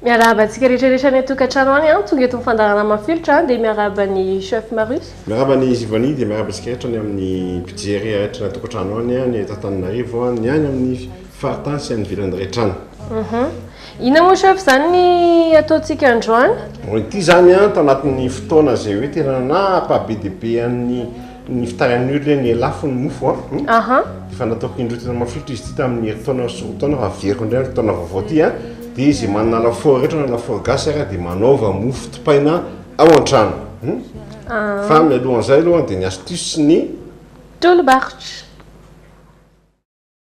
Miarahaba antsika rehetra rehetra any an-tokantrano any an, tonga eto ny fandaharana mafilotra an, dia miarahaba ny chef Marius. Miarahaba ny Zivani, dia miarahaba antsika rehetra ny amin'ny mpijery rehetra any an-tokantrano any, ny eto Antananarivo, ny any amin'ny Faritany sy any ivelany iray trano. Uhum. Inona moa chef izany ny ataontsika androany? Bon, ity zany an, tanatin'ny fotoana izay hoe tena napa be dia be an'ny ny fitarihan'ny olona ny lafo ny mofo an, hum, Aham. efa nataoko indroa tena mafilotra izy ity tamin'ny herintaona sy roa taona fa averiko indray ny taona vaovao ity an, dia izay manana lafaoro rehetra na lafaoro gasy ary dia manaova mofo topaina ao an-trano, hum. Fa mialohan'izay aloha dia ny astuce sy ny. Tolo-barotra.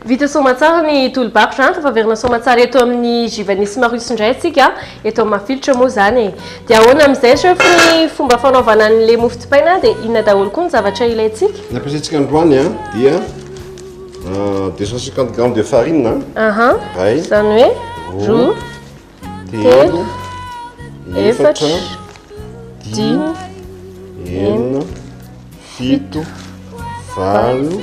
Vita soamatsara ny tolo-bakotra an! Tafaverina soamatsara eto amin'ny Givanisy Marius indray isika eto amin'ny mafilotra moa izany e! Dia ahoana amin'izay chef ny fomba fanaovana an'ilay mofo dipaina dia inona daholo koa ny zavatra ilaintsika? Ny ampiasaintsika androany an dia 250 grammes de farine an, Aha, iray, izany hoe roa, telo, efatra, dimy, enina, fito, valo,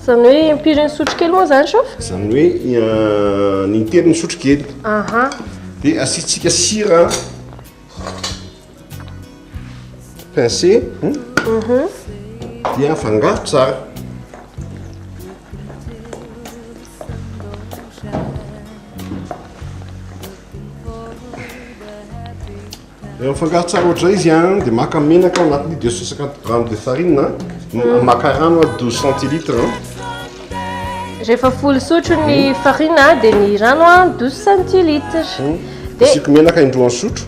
Izany hoe impiry ny sotro kely moa izany shof? Izany hoe eh, ny intelo ny sotro kely. Aha. Dia asiantsika sira. Pincé. Hmm? Mhm. Dia afangaro tsara. Rehefa mifangaro tsara ohatr'izay izy an, dia maka menaka ao anatin'io deux cent cinquante grammes de farine an, m- maka rano an, douze centilitres an. Rehefa folo sotro ny farine a, dia ny rano a 12 centilitres. Dia Asiako menaka indroa sotro.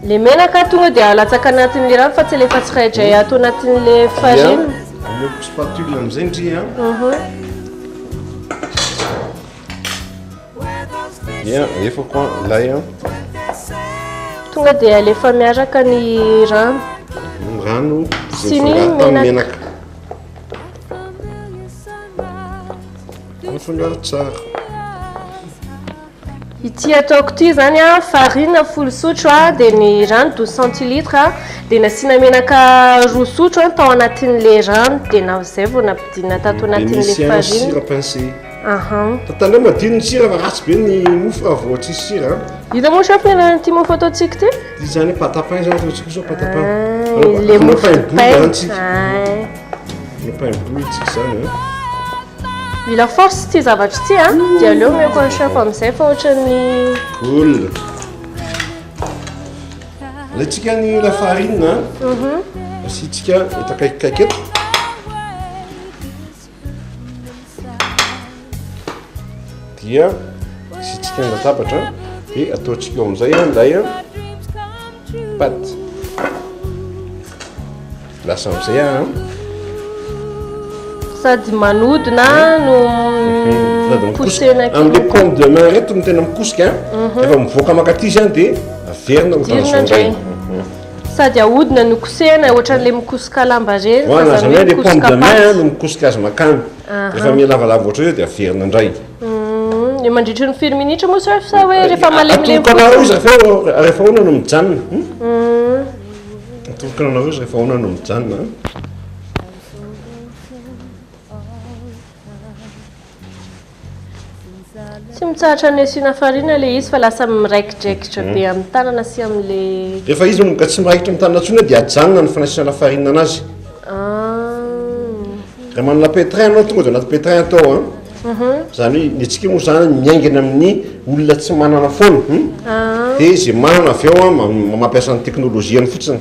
le menaka tonga dia alatsaka anatin'ilay rano fa tsy alefa tsiraidray ato anatin'ilay farine. Aleoko spatule amin'izay ndry an. Ia, alefako an, lay an. Tonga dia alefa miaraka ny rano. Ny rano sy ny menaka. Mifangaro tsara. Ity ataoko ity zany a, farine folo sotro a, dia ny rano douze centilitres a, dia nasiana menaka roa sotro tao anatin'ilay rano, dia na zay vao nampidirina tato anatin'ilay farine. Ahan. Tandremo adino ny sira fa ratsy be ny mofo raha vao tsisy sira. Hita moa chef ny anaran'ity mofo ataontsika ity? Ity zany pâte à pain zany zao tsika zao pâte à pain. Ah, le mofo pain boule tsika. Le pain boule tsika zany hein. Mila force ity zavatra ity hein. Ah. Dia aleo meko an'i chef amin'izay fa ohatran'ny boule. Alaitsika ny la farine hein. Mhm. Asitsika etakaiky kaiky eto. dia asitsika ny latabatra dia ataontsika eo amin'izay an'ilay paty lasa amin'izay a sady manodina no posena amle pomme de main reto no tena mikosika mhm. efa mivoaka makatizy any dia averina ho tanzondray Sady ahodina no kosehina ohatran'le mikosoka lamba reny fa zany hoe mikosoka paty. no mikosoka azy makany. Rehefa milavalava ohatran'io izy dia averina indray. Dia mandritry ny firy minitra moa sir sa hoe rehefa malemilemy fotsiny? Atorokanareo izy rehefa rehefa ahoana no mijanona? Atorokanareo izy rehefa ahoana no mijanona? Tsy mitsahatra ny asiana farine ilay izy fa lasa miraikidraikitra be hmm. amin'ny tanana sy amin'ilay... Rehefa izy moka tsy miraikitra amin'ny tanana intsony dia ajanona ny fanasiana farine anazy. Ah. Raha manana pétrin anao tonga dia anaty pétrin atao a. Mhm. Izany hoe ny antsika moa izany miaingana amin'ny olona tsy manana foana. Hmm? Ah. Dia izay manana avy ao mampiasa ny teknolojiany fotsiny.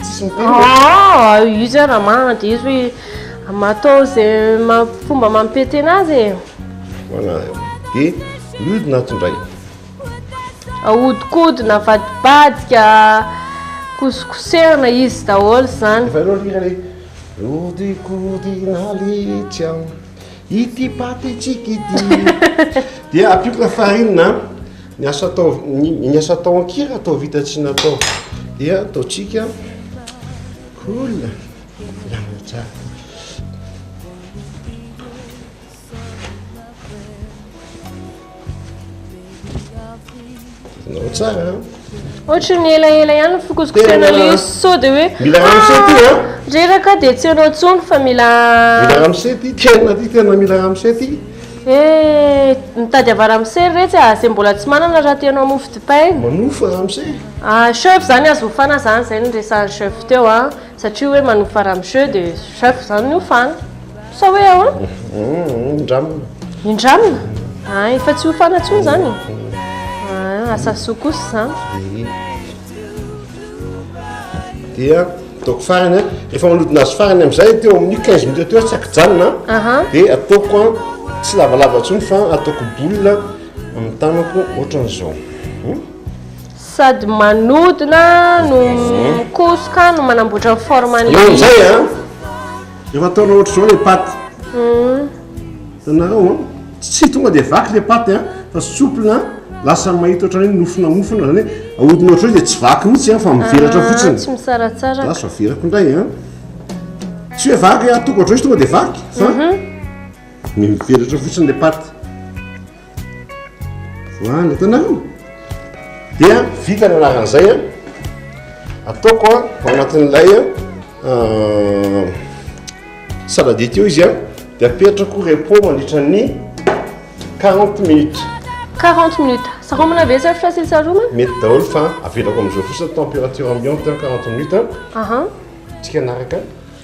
Tsisy miteny ve? Ah, io zay raha marina dia izy hoe matao izay fomba mampipe tena azy e. Voilà. Dia mihodina ato indray. Ahodikodina, avadibadika, kosokosehina izy daholo izany. Efa ianao hira le Hodikodina letsy an ity paty tsikidy. Dia ampiako lafarinina Ny asa atao ny asa atao an-kira atao vita tsy natao dia ataontsika cool lana tsara. Nao tsara. Ohatry ny elaela ihany ny fokosikosena le sao de hoe mila ramose ty a. Ah, reraka dia tsy anao tsony fa mila mila ramose ty tena ty tena mila ramose ty. Eh! Mitady ava ramose retsy ah! Zay mbola tsy manana raha te hanao mofo dipaina. Manofa ramose e! Ah chef zany azo hofana zany izay no resahan'i chef teo an! Satria hoe manofa ramose dia chef zany no hofana! Sa hoe ahoana? Indramina. Indramina? Ah efa tsy hofana intsony zany e! Ah asa soa kosa izany. dia ataoko farany a rehefa manodina azy farany am'izay teo amin'ny quinze minutes teo tsy akijanona dia ataoko a tsy lavalava ntsony fa ataoko boule amin'ny tanako ohatran'izao hmm? sady manodina no hmm. mikosoka no manamboatra ny forme eo am'izay a efa ataonao ohatr'izao le paty hmm. Tanarao an, tsy tonga dia vaky le paty an, fa souple an, lasa mahita ohatran'ny hoe nofona mofona, izany hoe ahodina ohatran'izay dia tsy vaky mihitsy an, fa mivelatra ah, fotsiny. Tsy misaratsaraka. Lasa averako indray an. Tsy hoe vaky an, tonga ohatran'ny hoe tonga dia vaky, fa mhm. mivelatra fotsiny le paty. Voahana tanàna. Dia vita ny anaran'izay a. Ataoko a, ao anatin'ilay euh, salade io izy a, dia apetrako repos mandritra ny 40 minutes. 40 minutes. Saromana ve sir fa sy saromana? Mety daholo fa avelako amin'izao fotsiny température ambiante 40 minutes. Aha. Tsika anaraka.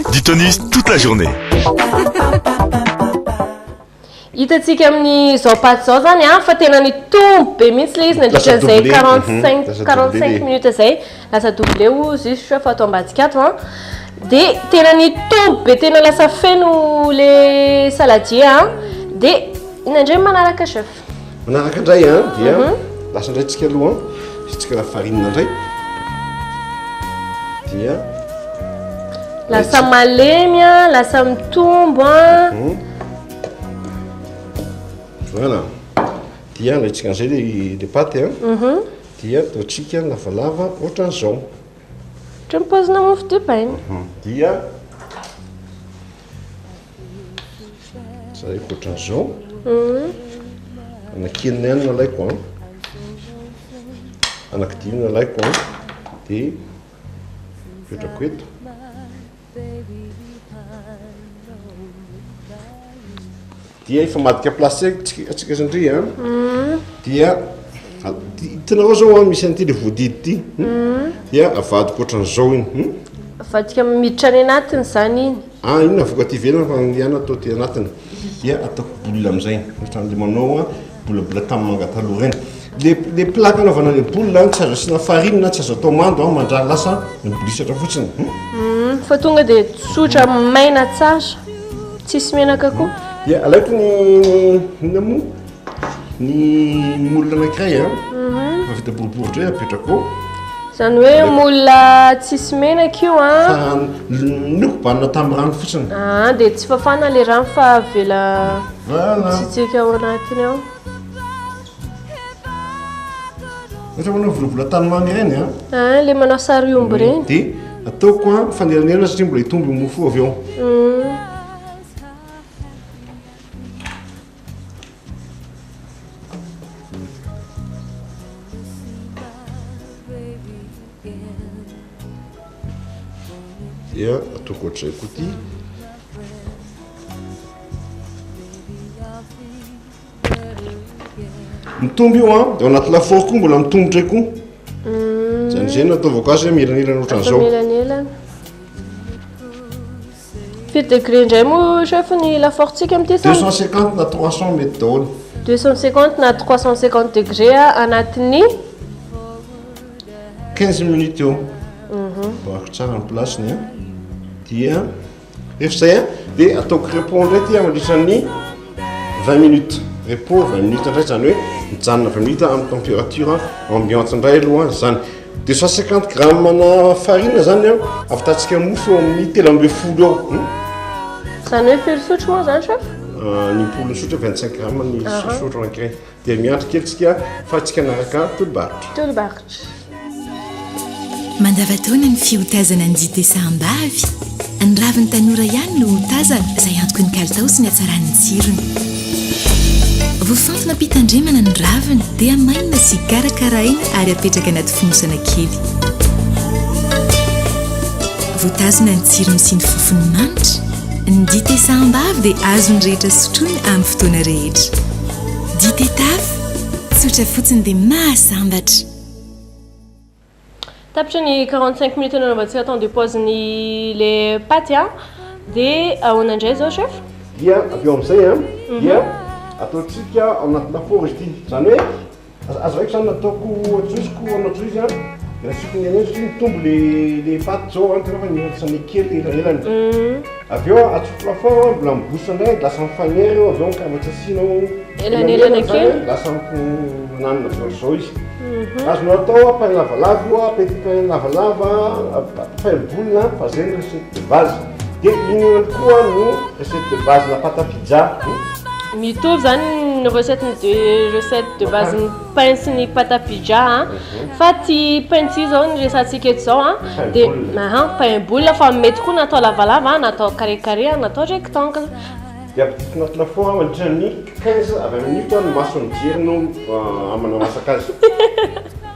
Du tonus toute la journée. Hitantsika amin'izao paty izao zany an, ah, fa tena nitombo be mihitsy le izy nandritra izay 45 45 mhm, minutes izay, lasa doublé ou juste fa ato ambadika ato an. Ah. Dia tena nitombo be tena lasa feno le saladier an. Ah. Dia inona indray manaraka chef? Manaraka indray an, ah, dia mhm. lasa indray tsika aloha an, ah. isitsika lafarinina indray. Dia lasa malemy an, ah, lasa mitombo an. Mhm. Voilà. Dia alaitsika an'izay le le paty an. Mhm. Dia ataontsika lavalava ohatran'izao. Ohatran'ny paozina mofo dipaina. Dia zay ohatran'izao anaky enina ihany nalaiko an anaky dimy nalaiko an de petrako eto Dia efa madika place atsika zandry a, dia hitanao zao a misy an'ity le voadidy ity, dia avadika ohatran'izao iny. Hmm? Avadika miditra any anatiny zany iny. Ah, iny avoka aty ivelany fa ny ihany atao aty anatiny. Dia ataoko boule amizay. Ohatran'le manao a Bola bola tam manga taloha reny. Le le plaque anaovana le boule an tsy azo asiana farine na tsy azo atao mando an mandraha lasa mibolisatra fotsiny. Hum fa tonga de tsotra maina tsara. Tsisy menaka koa. Dia alaiko ny inona moa? Ny moule anankiray an. Efa vita boribory dray apetrako ao. Zany hoe moule tsisy menaka io an. Fa nokobanina tam rano fotsiny. Aa de tsy fafana le rano fa avela. Mitsitsika ao anatiny ao. Ohatra manao volavola tany mamy ireny a. Ah, ah, le manao sary omby ireny. Dia ataoko a fanelanelana satria mbola hitombo ny mofo avy ao. Mm. Dia ataoko ohatr'izay koa ity. Mitombo io an, dia ao anaty lafaoro koa mbola mitombo indray koa. Mm. Izany izay no ataovako azy hoe mielanelana ohatran'izao. Mielanelana. Firy degré indray moa chef ny lafaorontsika amin'ity sa? 250 na 300 mety daholo. 250 na 350 degré anatin'ny 15 minutes eo mivarotra mhm. tsara ny place-ny a dia rehefa zay a dia ataoko repos indray ty mandritran'ny 20 minutes repos 20 minutes indray zany hoe mijanona 20 minutes amin'ny température ambiante indray aloha zany de 150 gramme na farine zany a avitantsika mofo eo amin'ny telo ambe folo eo hmm? zany hoe firy sotro moa zany chef euh, ny polo sotra 25 gramme ny sosotro ankiray Dia miandry kely tsika fa tsy kanaraka tolobaritra. Tolobaritra. Mandavataona ny fiotazana ny dite sahambavy. Ny ravin'ny tanora ihany no hotazana izay antoky ny kalitao sy ny hatsaran'ny tsirony. Vofantina am-pitandremana ny raviny dia mainina sy karakaraina ary apetraka anaty fonosana kely. Votazina ny tsirony sy ny fofony manitra. Ny dite sahambavy dia azon'ny rehetra sotroina amin'ny fotoana rehetra. Dite taf, tsotra fotsiny dia mahasambatra. Tapitra ny 45 minutes anao mba tsy atao de pause ny le paty a. Dia ahoana indray zao chef? Dia avy eo amin'izay a dia ataontsika ao anatina four izy ity. Izany hoe. Aza aza raiko zany nataoko ajoiziko anao joizy an de asiko ny anenjiko iny tombo le le paty zao an tena fa nihoatsane kely elanelany avy eo atsofoko lafaoro an mbola mibosa indray lasa mifagnera eo avy eo ka mba tsy asianao elanelana kely lasa mifananina zao ry zao izy azonao atao an pain lavalava io an petit pain lavalava pain boule an fa zay ny recette de base Dia iny ihany koa no recette de base na pâte à pizza. Mitovy izany ny recette ny deux recettes de base ny pain sy ny pâte à pizza a. Ah. Mhm. Fa ty pain ty izao ny resantsika eto izao a. Ah. Dia aha pain boule fa mety koa na atao lavalava ah, na atao carré carré na atao rectangle. Dia ampidirina anatina four mandritra ny 15 à 20 minutes ny mason'ny jiro no ah, amanao masaka azy.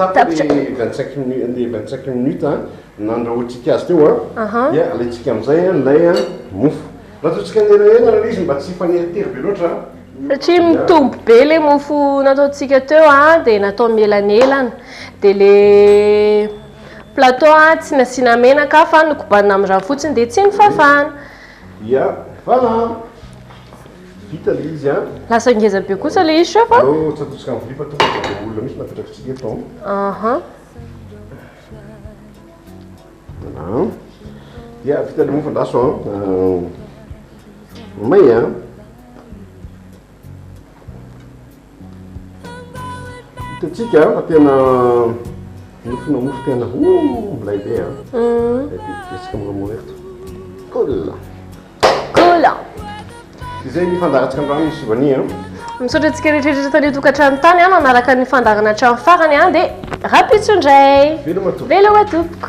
Tapitra ny vingt cinq minutes ny vingt cinq minutes a nandrahoantsika azy teo a Aha. dia alaintsika amin'izay a ilay a mofo raha ataontsika ny elaela ilay izy mba tsy hifanera tery be loatra a Satria mitombo be ilay mofo nataontsika teo a dia natao mielanelana dia ilay plateau a tsy nasiana menaka fa nokobanina amin'ny rano fotsiny dia tsy nifafana Ia Fana a! Vita le izy a! Lasa ngeza be kosa le izy chef a! Aleo tsy atosika amin'ny vilia fa tonga dia ireo olona mihitsy no apetrakintsika eto an! Aha! An! Ia vita le mofo andraso an! May a! Hitantsika fa tena nofona mofo tena oh, milay be a. Mm. Betsika moromory eto. Cool. Cool. Izay ny fandaratsika ny rano misy vania. Misaotra antsika rehetrarehetra tany tokantrano tany a nanaraka ny fandarana hatramin'ny farany a dia rapitso indray. Veloma tompoko. Veloma tompoko.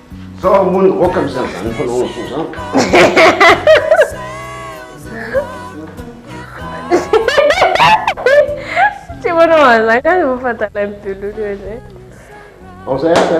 Zao ary moa niroaka amin'izany zany fanaonao soa zany ka. Tsy manao an'izany ka vao fantatr'ilay mitololo eo izay. Ao izay aza.